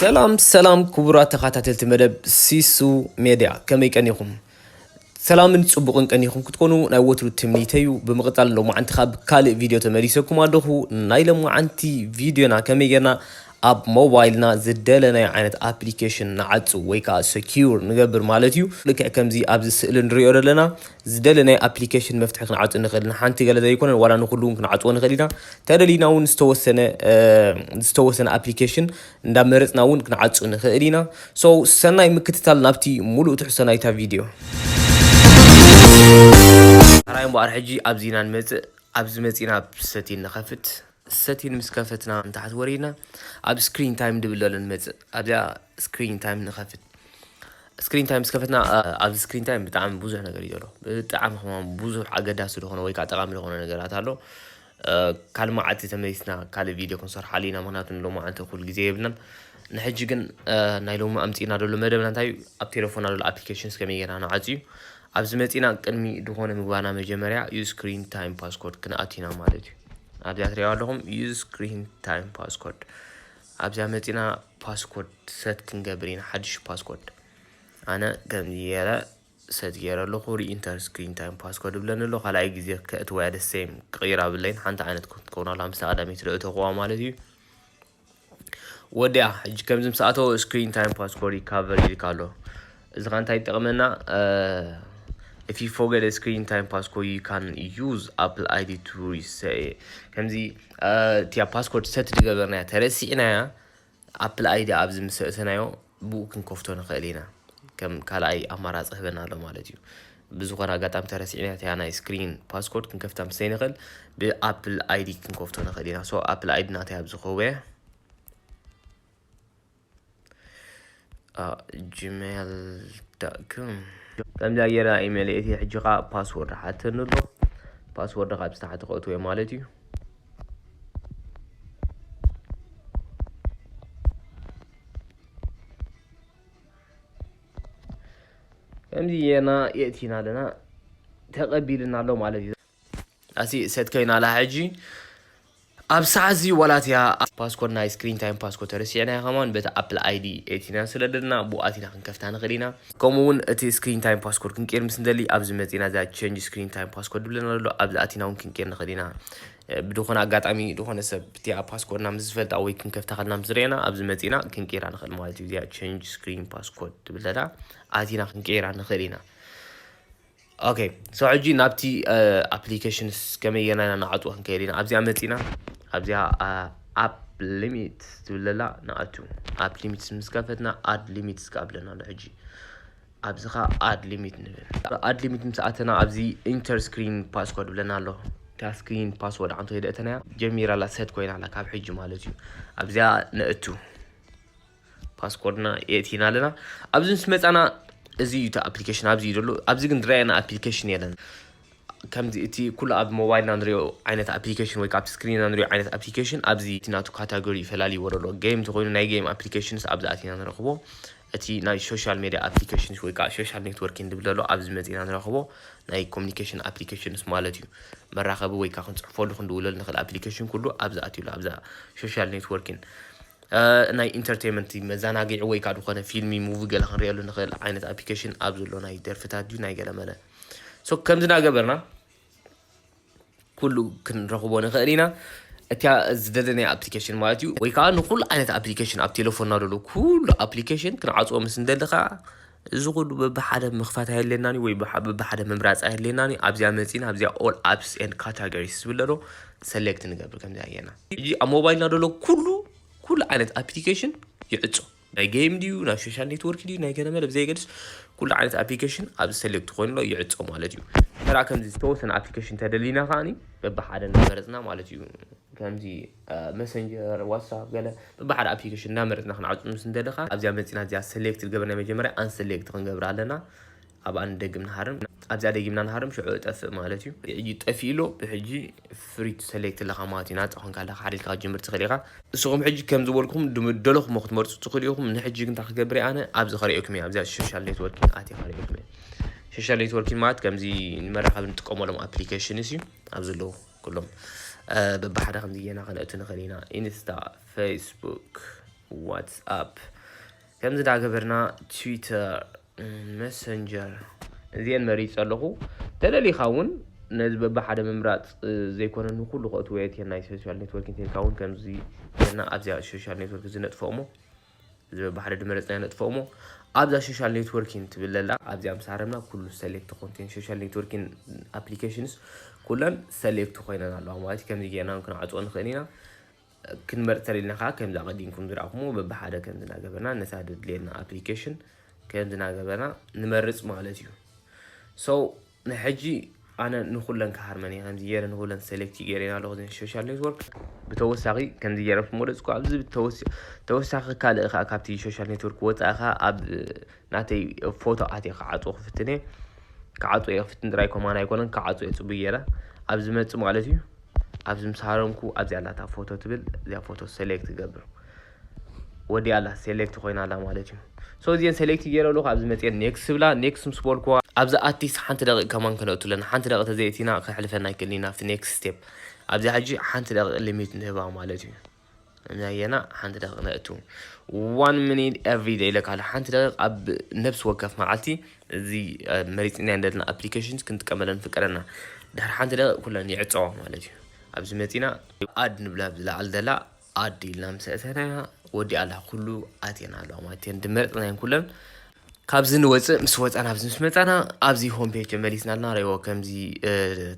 ሰላም ሰላም ክቡራት ተኸታተልቲ መደብ ሲሱ ሜድያ ከመይ ቀኒኹም? ሰላምን ፅቡቕን ቀኒኹም ክትኮኑ ናይ ወትሩ ትምኒተዩ ብምቕፃል ሎማዓንቲ ካብ ካልእ ቪድዮ ተመሊሰኩም ኣለኹ ናይ ሎማዓንቲ ቪድዮና ከመይ ጌርና ኣብ ሞባይልና ዝደለናዮ ዓይነት ኣፕሊኬሽን ንዓጹ ወይ ከዓ ሰኪዩር ንገብር ማለት እዩ። ልክዕ ከምዚ ኣብዚ ስእሊ ንሪኦ ዘለና ዝደለናዮ ኣፕሊኬሽን መፍትሒ ክንዓጹ ንኽእል ንሓንቲ ገለ ዘይኮነ ዋላ ንኹሉ እውን ክንዓጽዎ ንኽእል ኢና። ተደሊና እውን ዝተወሰነ ዝተወሰነ ኣፕሊኬሽን እንዳመረጽና እውን ክንዓጹ ንኽእል ኢና። ሶ ሰናይ ምክትታል ናብቲ ሙሉእ ትሕዝቶ ናይታ ቪድዮ። ራይ እምበኣር ሕጂ ኣብዚ ኢና ንመጽእ ኣብዚ መጺእና ኣብ ሰቲን ንኸፍት። ሰቲን ምስ ከፈትና ንታሕቲ ወሪድና ኣብ ስክሪን ታይም ድብል ዘሎ ንመፅእ ኣብዚኣ ስክሪን ታይም ንኸፍት ስክሪን ታይም ምስ ከፈትና ኣብዚ ስክሪን ታይም ብጣዕሚ ብዙሕ ነገር እዩ ዘሎ ብጣዕሚ ከማ ብዙሕ ኣገዳሲ ዝኾነ ወይ ከዓ ጠቃሚ ዝኾነ ነገራት ኣሎ ካልእ መዓልቲ ተመሊስና ካልእ ቪድዮ ክንሰርሓሉ ኢና ምክንያቱ ሎሚ መዓልቲ እኩል ግዜ የብልናን ንሕጂ ግን ናይ ሎሚ ኣምፂና ደሎ መደብና እንታይ እዩ ኣብ ቴሌፎና ደሎ ኣፕሊኬሽንስ ከመይ ጌርና ንዓፅ እዩ ኣብዚ መፂና ቅድሚ ዝኾነ ምግባና መጀመርያ ዩ ስክሪን ታይም ፓስኮርድ ክንኣቲና ማለት እዩ ኣብዚኣ ትሪእዋ ኣለኹም ዩዝ ስክሪን ታይም ፓስኮርድ ኣብዚኣ መፂና ፓስኮርድ ሰት ክንገብር ኢና ሓድሽ ፓስኮርድ ኣነ ከምዚ ገይረ ሰት ገይረ ኣለኹ ሪኢንተር ስክሪን ታይም ፓስኮርድ ብለኒ ኣሎ ካልኣይ ግዜ ከእትወያ ደሰይም ክቕይራ ብለይን ሓንቲ ዓይነት ክትከውን ኣላ ምስታ ቀዳመይቲ ዝእተኹዋ ማለት እዩ ወዲያ ሕጂ ከምዚ ምስ ኣተወ ስክሪን ታይም ፓስኮርድ ይካቨር ይልካ ኣሎ እዚ ኸ እንታይ ይጠቕመና if you forget a screen time passcode you can use apple id to reset ከምዚ እቲያ ፓስኮርድ ሰት ዝገበርናያ ተረሲዕናያ ኣፕል ኣይዲ ኣብዚ ምስ ሰእተናዮ ብኡ ክንከፍቶ ንክእል ኢና ከም ካልኣይ ኣማራጺ ህበና ኣሎ ማለት እዩ ብዝኾነ ኣጋጣሚ ተረሲዕና እቲያ ናይ ስክሪን ፓስኮርድ ክንከፍታ ምስ ዘይንኽእል ብኣፕል ኣይዲ ክንከፍቶ ንኽእል ኢና ሶ ኣፕል ኣይዲ ናተይ ኣብ ዝኸውየ ጂሜል ዳኩም ከምዚኣ ጌራ ኢሜል እቲ ሕጂ ከዓ ፓስወርድ ሓተኒ ኣሎ ፓስወርድ ካብ ዝተሓተ ከእትወ ማለት እዩ ከምዚ ጌርና የእቲና ኣለና ተቐቢልና ኣሎ ማለት እዩ ኣሲ ሰት ኮይና ኣላ ሕጂ ኣብ ሰዓት እዚ ዋላት እያ ፓስኮድ ናይ ስክሪን ታይም ፓስኮድ ተረሲዕና ከማን በቲ ኣፕል ኣይዲ ኤቲና ስለደና ብኣቲና ክንከፍታ ንኽእል ኢና ከምኡ ውን እቲ ስክሪን ታይም ፓስኮርድ ክንቅይር ምስ ንደሊ ኣብዚ መጺና እዛ ቼንጅ ስክሪን ታይም ፓስኮርድ ዝብለና ዘሎ ኣብዚ ኣቲና ውን ክንቅይር ንኽእል ኢና ብዝኾነ ኣጋጣሚ ዝኾነ ሰብ እቲኣ ፓስኮርድና ምስ ዝፈልጣ ወይ ክንከፍታ ከልና ምስ ዝርእየና ኣብዚ መጺና ክንቅይራ ንኽእል ማለት እዩ እዚኣ ቼንጅ ስክሪን ፓስኮርድ ትብል ዘላ ኣቲና ክንቅይራ ንኽእል ኢና ኦኬ ሶ ሕጂ ናብቲ ኣፕሊኬሽንስ ከመየና ኢና ንኣትዎ ክንከይድ ኢና ኣብዚኣ መፂና ኣብዚኣ ኣፕ ሊሚት ትብለላ ንኣቱ ኣፕ ሊሚትስ ምስ ከፈትና ኣድ ሊሚትስ ክኣ ብለና ኣሎ ሕጂ ኣብዚ ኸ ኣድ ሊሚት ንብል ኣድ ሊሚት ምስ ኣተና ኣብዚ ኢንተር ስክሪን ፓስኮድ ብለና ኣሎ እታ ስክሪን ፓስወርድ ዓንቶ የደእተናያ ጀሚራ ኣላ ሰት ኮይና ኣላ ካብ ሕጂ ማለት እዩ ኣብዚኣ ነእቱ ፓስኮርድና የእቲና ኣለና ኣብዚ ምስ መፃና እዚ እዩ እቲ ኣፕሊኬሽን ኣብዚ እዩ ዘሎ ኣብዚ ግን ዝረኣየና ኣፕሊኬሽን የለን ከምዚ እቲ ኩሉ ኣብ ሞባይልና ንሪኦ ዓይነት ኣፕሊኬሽን ወይ ካብ ስክሪንና ንሪኦ ዓይነት ኣፕሊኬሽን ኣብዚ እቲ ናቱ ካታጎሪ ይፈላለዩ ወረሎ ጌም እንተኮይኑ ናይ ጌም ኣፕሊኬሽንስ ኣብዚ ኣቲና ንረኽቦ እቲ ናይ ሶሻል ሜዲያ ኣፕሊኬሽንስ ወይ ከዓ ሶሻል ኔትወርኪን ዝብል ዘሎ ኣብዚ መፂና ንረኽቦ ናይ ኮሚኒኬሽን ኣፕሊኬሽንስ ማለት እዩ መራኸቢ ወይ ከዓ ክንፅሕፈሉ ክንድውለሉ ንኽእል ኣፕሊኬሽን ኩሉ ኣብዚ ኣትዩሉ ኣብዛ ሶሻል ኔትወርኪን ናይ ኢንተርተይመንት መዛናጊዒ ወይ ካዓ ድኾነ ፊልሚ ሙቪ ገለ ክንሪኤሉ ንኽእል ዓይነት ኣፕሊኬሽን ኣብ ዘሎ ናይ ደርፍታት ድዩ ናይ ገለመለ ሶ ከምዚ ናገበርና ኩሉ ክንረኽቦ ንኽእል ኢና እቲያ ዝደለናያ ኣፕሊኬሽን ማለት እዩ ወይ ከዓ ንኩሉ ዓይነት ኣፕሊኬሽን ኣብ ቴሌፎንና ዘሎ ኩሉ ኣፕሊኬሽን ክንዓፅዎ ምስ እንደሊ ከዓ እዚ ኩሉ በብሓደ ምኽፋት ኣየድልየናን እዩ ወይ በብሓደ ምምራፅ ኣየድልየናን እዩ። ኣብዚኣ መፂና ኣብዚኣ ኦል ኣፕስ ኤንድ ካታጎሪስ ዝብል ኣሎ ሰሌክት ንገብር ከምዚኣ ጌርና። ሕጂ ኣብ ሞባይልና ዘሎ ኩሉ ኩሉ ዓይነት ኣፕሊኬሽን ይዕፆ ናይ ጌም ድዩ ናይ ሶሻል ኔትወርክ ድዩ ናይ ገለመለ ብዘየገድስ ኩሉ ዓይነት ኣፕሊኬሽን ኣብዚ ሰሌክት ኮይኑ ኣሎ ይዕፆ ማለት እዩ። ተራ ከምዚ ዝተወሰነ ኣፕሊኬሽን ተደሊና ከዓኒ በብሓደ እናመረፅና ማለት እዩ ከምዚ መሰንጀር፣ ዋትስኣፕ ገለ በብሓደ ኣፕሊኬሽን እናመረጽና ክንዓጹ ምስ እንደለኻ ኣብዚኣ መጺና እዚኣ ሰሌክት ዝገበርና ናይ መጀመርያ ኣንሰሌክት ክንገብራ ኣለና ኣብኣ ንደግም ንሃርም ኣብዚኣ ደጊምና ንሃርም ሽዑ እጠፍእ ማለት እዩ ሕጂ ጠፊኡ ኣሎ ብሕጂ ፍሪ ቱ ሰሌክት ኣለኻ ማለት እዩ ናጻ ኮንካ ኣለኻ ሓደ ኢልካ ክትጅምር ትኽእል ኢኻ ንስኹም ሕጂ ከም ዝበልኩም ድደለኹሞ ክትመርጹ ትኽእሉ ኢኹም ንሕጂ ግን እንታይ ክገብር ኣነ ኣብዚ ከርእየኩም እየ ኣብዚኣ ሶሻል ኔትወርኪንግ ኣትየ ከርእየኩም እየ ሶሻል ኔትወርኪንግ ማለት ከምዚ ንመራኸቢ ንጥቀመሎም ኣፕሊኬሽንስ እዩ ኣብ ዘለዉ ኩሎም በብሓደ ከምዚ ጌና ከነእቱ ንኽእል ኢና ኢንስታ ፌስቡክ ዋትስኣፕ ከምዚ ዳገበርና ትዊተር መሰንጀር እዚአን መሪፅ ኣለኹ ተለሊኻ እውን ነዚ በብሓደ ምምራፅ ዘይኮነ ንኩሉ ከእትዎ የትየን ናይ ሶሻል ኔትወርክ እንተልካ እውን ከምዚ ጌርና ኣብዚኣ ሶሻል ኔትወርክ እዚ ነጥፍኦ እሞ ዝብል ባሕሪ ድመረጽና ነጥፍኦሞ ኣብዛ ሾሻል ኔትወርኪን ትብል ለላ ኣብዚኣ ምስ ኣረምና ኩሉ ሰሌክት ኮንቴን ሾሻል ኔትወርኪን ኣፕሊኬሽንስ ኩለን ሰሌክት ኮይነን ኣለዋ ማለት ከምዚ ጌርና ክንዓጽኦ ንኽእል ኢና ክንመርፅ ተሪልና ከዓ ከምዚ ኣቐዲምኩም ዝረኣኹምዎ በብሓደ ከም ዝናገበና ነታ ድድልየና ኣፕሊኬሽን ከም ዝናገበና ንመርፅ ማለት እዩ ሰው ናይ ሕጂ ኣነ ንኩለን ክሃርመን እየ ከምዚ ጌረ ንኩለን ሰሌክቲ ጌረን ኣለኩ እዘን ሾሻል ኔትወርክ ብተወሳኺ ከምዚ ጌረ ምወደጽኩ ኣብዚ ተወሳኺ ካልእ ከኣ ካብቲ ሾሻል ኔትወርክ ወጻኢ ከኣ ኣብ ናተይ ፎቶ ኣትየ ክዓጽዎ ክፍትን እየ ክዓጽዎ እየ ክፍትን ጥራይ ኮማን ኣይኮነን ክዓጽዎ እየ ጽቡይ ጌረ ኣብ ዝመጽእ ማለት እዩ ኣብዚ ምስ ሃረምኩ ኣብዚኣ ኣላታ ፎቶ ትብል እዚኣ ፎቶ ሰሌክት ገብር ወዲኣ ኣላ ሴሌክት ኮይና ኣላ ማለት እዩ ሶ እዚን ሴሌክት ገይረ ኣለኹ ኣብዚ መፅኤ ኔክስት ብላ ኔክስት ምስ በልኩዋ ኣብዚ ኣቲስ ሓንቲ ደቂቕ ከማን ክነእቱ ኣለና ሓንቲ ደቂቕ ተዘይእቲና ከሕልፈና ኣይክእልን ናብቲ ኔክስት ስቴፕ ኣብዚ ሕጂ ሓንቲ ደቂቕ ሊሚት ንህባ ማለት እዩ ናየና ሓንቲ ደቂቕ ነእቱ ዋን ሚኒት ኤቭሪ ደይ ኢለካ ኣሎ ሓንቲ ደቂቕ ኣብ ነብሲ ወከፍ መዓልቲ እዚ መሪፅና ዘለና ኣፕሊኬሽን ክንጥቀመለን ፍቀደና ድሕሪ ሓንቲ ደቂቕ ኩለን ይዕፀዋ ማለት እዩ ኣብዚ መፂና ኣድ ንብላ ኣብዚ ላዕሊ ዘላ ኣድ ኢልና ምስ ኣእተናያ ወዲኣላ ኩሉ ኣቴና ኣለዋ ማለት እየን ድመረፅናየን ኩለን ካብዚ ንወፅእ ምስ ወፃና ኣብዚ ምስ መፃና ኣብዚ ሆም ፔጅ ተመሊስና ኣለና ረዎ ከምዚ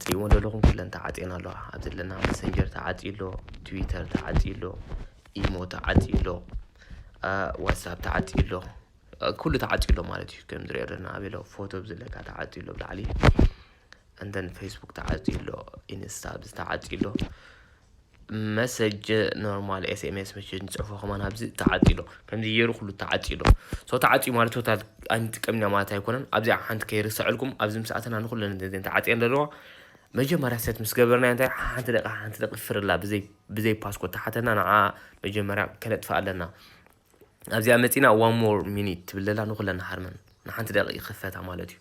ትሪእዎን ዘለኹም ኩለን ተዓፅየን ኣለዋ ኣብ ዘለና መሰንጀር ተዓፅዩ ኣሎ ትዊተር ተዓፅዩ ኣሎ ኢሞ ተዓፅዩ ኣሎ ዋትሳፕ ተዓፅዩ ኣሎ ኩሉ ተዓፅዩ ኣሎ ማለት እዩ ከም ዝሪኦ ኣለና ኣበሎ ፎቶ ብዝለካ ተዓፅዩ ኣሎ ብላዕሊ እንተን ፌስቡክ ተዓፅዩ ኣሎ ኢንስታ ብዚ ተዓፅዩ ኣሎ መሰጅ ኖርማል ኤስኤምኤስ መሰጅ ንፅሕፎ ከማን ኣብዚ ተዓፅዩ ኣሎ ከምዚ ገይሩ ኩሉ ተዓፅዩ ኣሎ ሶ ተዓፅዩ ማለት ቶታል ኣይንጥቀም ኢና ማለት ኣይኮነን ኣብዚኣ ሓንቲ ከይርሰዐልኩም ኣብዚ ምስ ኣተና ንኩለን እዚን ተዓፅየን ዘለዋ መጀመርያ ሰት ምስ ገበርና እንታይ ሓንቲ ደቂ ሓንቲ ደቂ ፍርላ ብዘይ ብዘይ ፓስኮት ተሓተና ንዓ መጀመርያ ከነጥፍእ ኣለና ኣብዚኣ መፂና ዋን ሞር ሚኒት ትብል ዘላ ንኩለን ንሓርመን ንሓንቲ ደቂ ይኽፈታ ማለት እዩ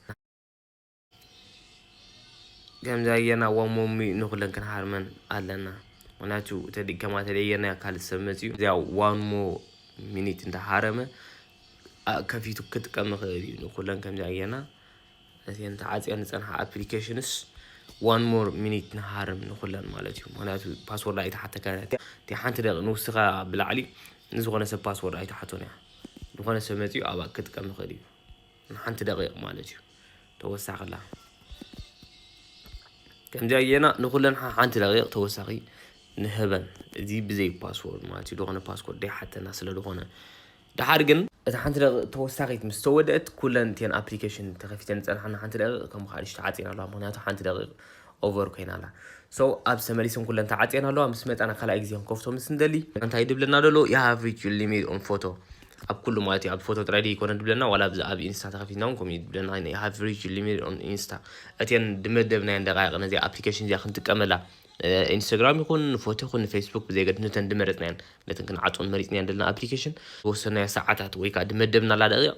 ከምዚ ኣየና ዋሞሚ ንኹለን ክንሃርመን ኣለና ምክንያቱ ተዲ ከማ ተደየና ካልእ ሰብ መፅኡ እዚኣ ዋንሞ ሚኒት እንተሃረመ ከፊቱ ክጥቀም ይኽእል እዩ ንኩለን ከምዚ ኣየና እተን ተዓፅየን ዝፀንሓ ኣፕሊኬሽንስ ዋን ሞር ሚኒት ንሃርም ንኹለን ማለት እዩ ምክንያቱ ፓስወርድ ኣይተሓተካ እቲ ሓንቲ ደቂ ንውስኻ ብላዕሊ ንዝኾነ ሰብ ፓስወርድ ኣይተሓቶን እያ ዝኾነ ሰብ መፅኡ ኣብኣ ክጥቀም ይኽእል እዩ ንሓንቲ ደቂቅ ማለት እዩ ተወሳክላ ከምዚኣ ጌና ንኩለን ሓንቲ ደቂቅ ተወሳኺ ንህበን እዚ ብዘይ ፓስወርድ ማለት እዩ ዝኾነ ፓስፖርት ደይሓተና ስለ ዝኾነ ድሓር ግን እቲ ሓንቲ ደቂቅ ተወሳኺት ምስ ተወደእት ኩለን እቲን ኣፕሊኬሽን ተኸፊተን ዝፀንሓና ሓንቲ ደቂቅ ከም ሓድሽ ተዓፂና ኣለዋ ምክንያቱ ሓንቲ ደቂቅ ኦቨር ኮይና ኣላ so ኣብዚ ተመሊሰን ኩለን ተዓጽየን ኣለዋ ምስ መጻና ካልኣይ ግዜ ክንከፍቶ ምስ ንደሊ እንታይ ድብለና ደሎ you have reached your limit on photo ኣብ ኩሉ ማለት እዩ ኣብ ፎቶ ጥራይ ድዩ ኮነ ድብለና ዋላ ኣብዚ ኣብ ኢንስታ ተኸፊትና እውን ከምኡ ድብለና you have reached your limit on insta እተን ድመደብናየን ደቃይቅ ነዚ ኣፕሊኬሽን እዚኣ ክንጥቀመላ ኢንስታግራም ይኹን ፎቶ ይኹን ንፌስቡክ ብዘይገድ ነተን ድመረጽናየን ነተን ክንዓጽን መሪጽናየን ደለና ኣፕሊኬሽን ዝወሰናዮ ሰዓታት ወይ ከዓ ድመደብናላ ደቂቕ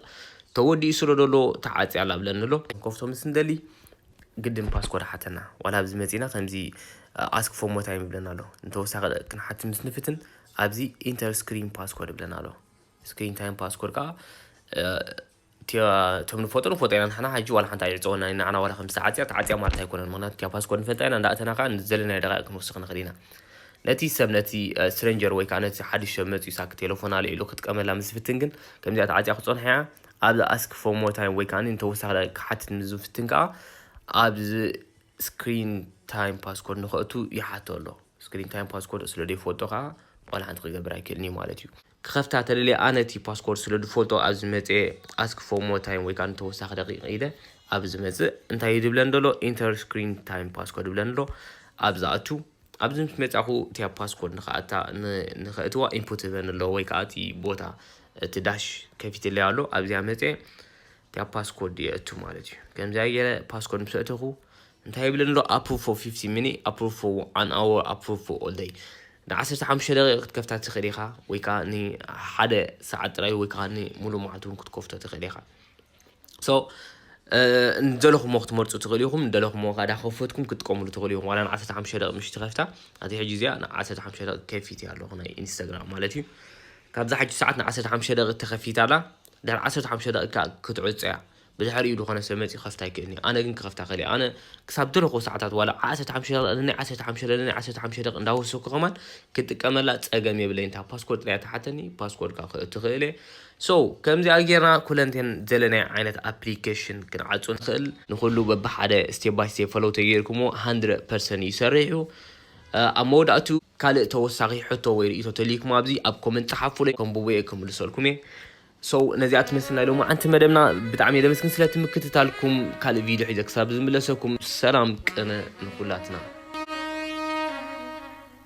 ተወዲኡ ስለ ደሎ ተዓጽያ ኣላ ብለን ንሎ ከፍቶ ምስ ንደሊ ግድን ፓስኮድ ሓተና ዋላ ኣብዚ መጺና ከምዚ ኣስክ ፎር ሞር ታይም ይብለና ኣሎ ንተወሳኺ ደቂቅ ክንሓቲ ምስ ንፍትን ኣብዚ ኢንተር ስክሪን ፓስኮድ ይብለና ኣሎ ስክሪን ታይም ፓስኮድ ከዓ እቶም ንፈልጦ ንፈልጦ ኢና ንሕና ሕጂ ዋላ ሓንቲ ኣይዕፀወና ንዓና ዋላ ከም ዝተዓፅያ ተዓፅያ ማለት ኣይኮነን ምክንያቱ እቲያ ፓስኮድ ንፈልጣ ኢና እንዳእተና ከዓ ዘለናዮ ደቃይቅ ክንወስኽ ንኽእል ኢና ነቲ ሰብ ነቲ ስትሬንጀር ወይ ከዓ ነቲ ሓድሽ ሰብ መፅኡ ሳክ ቴሌፎን ኣልዒሉ ክጥቀመላ ምስ ዝፍትን ግን ከምዚኣ ተዓፅያ ክፀንሖ እያ ኣብዚ Ask for more time ወይ ከኣ ንተወሳኺ ደቂቕ ክሓትት ምስ ዝፍትን ከኣ ኣብዚ ስክሪን ታይም ፓስኮርድ ንኸእቱ ይሓቶ ኣሎ። ስክሪን ታይም ፓስኮርድ ስለ ዘይፈልጦ ከኣ ዋላ ሓንቲ ክገብር ኣይክእልን እዩ ማለት እዩ። ክኸፍታ ተደልየ ኣነ እቲ ፓስኮርድ ስለ ዝፈልጦ ኣብዚ መጽየ Ask for more time ወይ ከኣ ንተወሳኺ ደቂቕ ኢለ ኣብዚ ዝመጽእ እንታይ እዩ ዝብለን ዘሎ ኢንተር ስክሪን ታይም ፓስኮርድ ይብለን ኣሎ። ኣብዚ ኣቱ። ኣብዚ ምስ መጻኹ እቲኣ ፓስኮድ ንክኣታ ንከእትዋ ኢንፑት ትህበኒ ኣሎ ወይ ከኣ እቲ ቦታ እቲ ዳሽ ከፊትለይ ኣሎ ኣብዚኣ መጸ እቲኣ ፓስኮድ የእቱ ማለት እዩ ከምዚኣ ገይረ ፓስኮድ ምስ ኣእተኹ እንታይ ይብለኒ ኣሎ ኣፕሩቭ ፎር 50 ሚኒ ኣፕሩቭ ፎር ኣን ኣወር ኣፕሩቭ ፎር ኦል ደይ ን15 ደቂቕ ክትከፍታ ትኽእል ኢኻ ወይ ከዓ ንሓደ ሰዓት ጥራይ ወይ ከዓ ንሙሉእ መዓልቲ እውን ክትከፍቶ ትኽእል ኢኻ So ንደለኹሞ ክትመርፁ ትኽእሉ ኢኹም ንደለኹሞ ከዓ ዳኸፈትኩም ክትጥቀምሉ ትኽእሉ ኢኹም ዋላ ንዓሰርተ ሓሙሽተ ደቂ ምሽቲ ከፍታ ኣቲ ሕጂ እዚኣ ንዓሰርተ ሓሙሽተ ደቂ ከፊት እያ ኣለኹ ናይ ኢንስታግራም ማለት እዩ ካብዛ ሓጂ ሰዓት ንዓሰርተ ሓሙሽተ ደቂ ተኸፊት ኣላ ድሕሪ ዓሰርተ ሓሙሽተ ደቂ ከዓ ክትዕፆ እያ ብድሕሪኡ ዝኾነ ሰብ መፂኡ ክኸፍታ ኣይክእልን እዩ ኣነ ግን ክኸፍታ ክእል ኣነ ክሳብ ደለኹ ሰዓታት ዋላ ዓሰርተ ሓሙሽተ ደቂ ንናይ ዓሰርተ ሓሙሽተ ደቂ ንናይ ዓሰርተ ሓሙሽተ ደቂ እንዳወሰኩ ከማን ክጥቀመላ ፀገም የብለይን እታ ፓስፖርት ጥራይ ተሓተኒ ፓስፖርት ከዓ ክእቱ ክእል እየ So ከምዚኣ ጌርና ኩለንቴን ዘለናዮ ዓይነት ኣፕሊከሽን ክንዓጹ ንኽእል። ንኹሉ በብሓደ ስቴፕ ባይ ስቴፕ ፈሎው ተጌርኩሞ ሃንድረድ ፐርሰንት እዩ ሰሪሑ። ኣብ መወዳእትኡ ካልእ ተወሳኺ ሕቶ ወይ ርእይቶ ተልይኩም ኣብዚ ኣብ ኮመንት ጸሓፉለይ ከንብቦ እየ ክምልሰልኩም እየ። So ነዚኣ ትመስል ናይ ሎማዓንቲ መደብና ብጣዕሚ እየ ዘመስግን ስለቲ ምክትታልኩም። ካልእ ቪድዮ ሒዘ ክሳብ ዝምለሰኩም ሰላም ቅነ ንኹላትና።